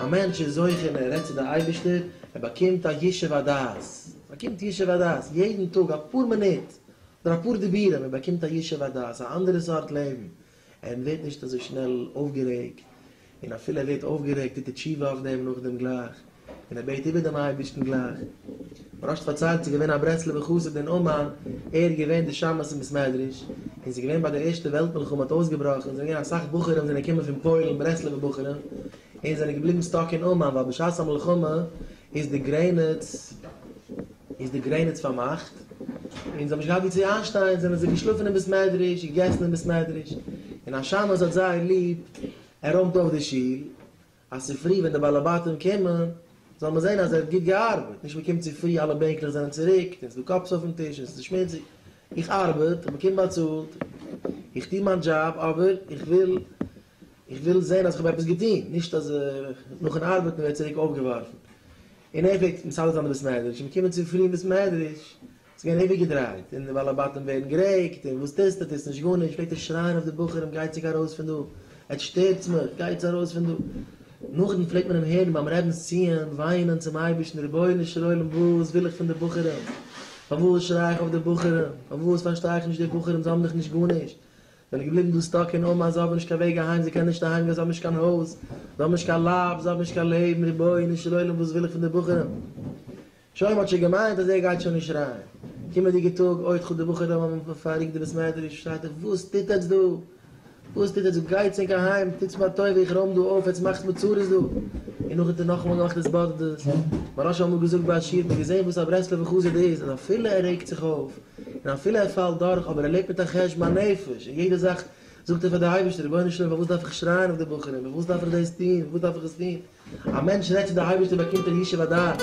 א מענטש איז זוכה און ער רעדט צו די אייבערשטער, ער באקומט א ישוב הדעת, ער באקומט ישוב הדעת, יעדן טאג אפאר מינוט, אדער אפאר דיבורים, ער באקומט א ישוב הדעת, א אנדערע סארט לעבן, און ווערט נישט אזוי שנעל אויפגערעגט, און אפילו ער ווערט אויפגערעגט טוט ער תשובה אויף דעם נאכדעם גלייך, און ער בעט איבער דעם אייבערשטן גלייך. מרן האט פארציילט ס'איז געווען א ברסלב'ער חסיד אין אומאן, ער האט געווען די שמש אין בית מדרש, און ס'איז געווען ביי די ערשטע וועלט מלחמה האט אויסגעבראכן, ס'זענען געווען אסאך בחורים זענען געקומען פון פוילן ברסלב'ער בחורים, און זענען געבליבן סטאק אין אומאן, ווייל בשעת המלחמה איז די גרעניץ. איז די גרעניץ פארמאכט, און זיי האבן נישט געהאט וואו צו איינשטיין, זענען זיי געשלאפן אין בית מדרש, געגעסן אין בית מדרש, און השמש האט זייער ליב, ער רוימט אויף די שול, אז צופרי ווען די בעלי בתים קומען, זאל מען זען אז ער האט גוט געארבעט, נישט מען קומט צופרי אלע בענקלעך זענען צוריקט, און ס'איז דא קאפס אויפן טיש, און ס'איז שמוציג, איך ארבעט, איך באקום באצאלט, איך טו מיין דזשאב, אבער איך וויל, איך וויל זען אז איך האב עפעס געטון, נישט אז נאכן ארבעטן ווערט צוריק אויפגעווארפן. אין אפעקט מצד די תלמידי סמעדריטש איז געקומען צו פרי מסמעדריטש איז געווען איבערגעדרייט און די בעלי בתים ווערן גערעגט און וואס טוסטו טוסט נישט גארנישט פלעגט ער שרייען אויף די בחורים גייטסעג ארויס פון דא עטס שטערטס מיך גייטס ארויס פון דא נאכדעם פלעגט מען אים הערן ביים רעבינס ציון וויינען צום אייבערשטן רבונו של עולם וואס וויל איך פון די בחורים פארוואס שריי איך אויף די בחורים פארוואס פארשטיי איך נישט די בחורים זיי האבן דאך נישט גארנישט זענען געבליבן דא סטאק אין אומאן, זיי האבן נישט קיין וועג אהיים, זיי קענען נישט אהיים גיין, זיי האבן נישט קיין הויז, זיי האבן נישט קיין לייב, זיי האבן נישט קיין לעבן, רבונו של עולם וואס וויל איך פון די בחורים? שוין מ'האט שוין געמיינט אז ער גייט שוין נישט ריין, קומענדיגע טאג אוי חו די בחורים האבן פארריקט די בית מדרש, שרייט ער וואס טוט עטץ דא? וואס טוט עטץ? גייטס ענק אהיים, טוטס מיר א טובה איך רוים דא אויף, עטץ מאכטס מיר צרות דא, און נאכדעם האט ער נאכאמאל געמאכט התבודדות, מהרא ש האט אמאל געזאגט ביי א שיעור, מ'האט געזען וואס א ברסלב'ע חסיד איז, אז אפילו ער רעגט זיך אויף, און אפילו ער פאלט דורך אבער ער לעבט מיט א חשבון הנפש, אין יעדע זאך זאגט ער פאר די אייבערשטער רבונו של עולם פארוואס דארף איך שרייען אויף די בחורים, פארוואס דארף איך דאס טון, פארוואס דארף איך עס טון, א מענטש רעדט צו די אייבערשטער באקומט ער ישוב הדעת.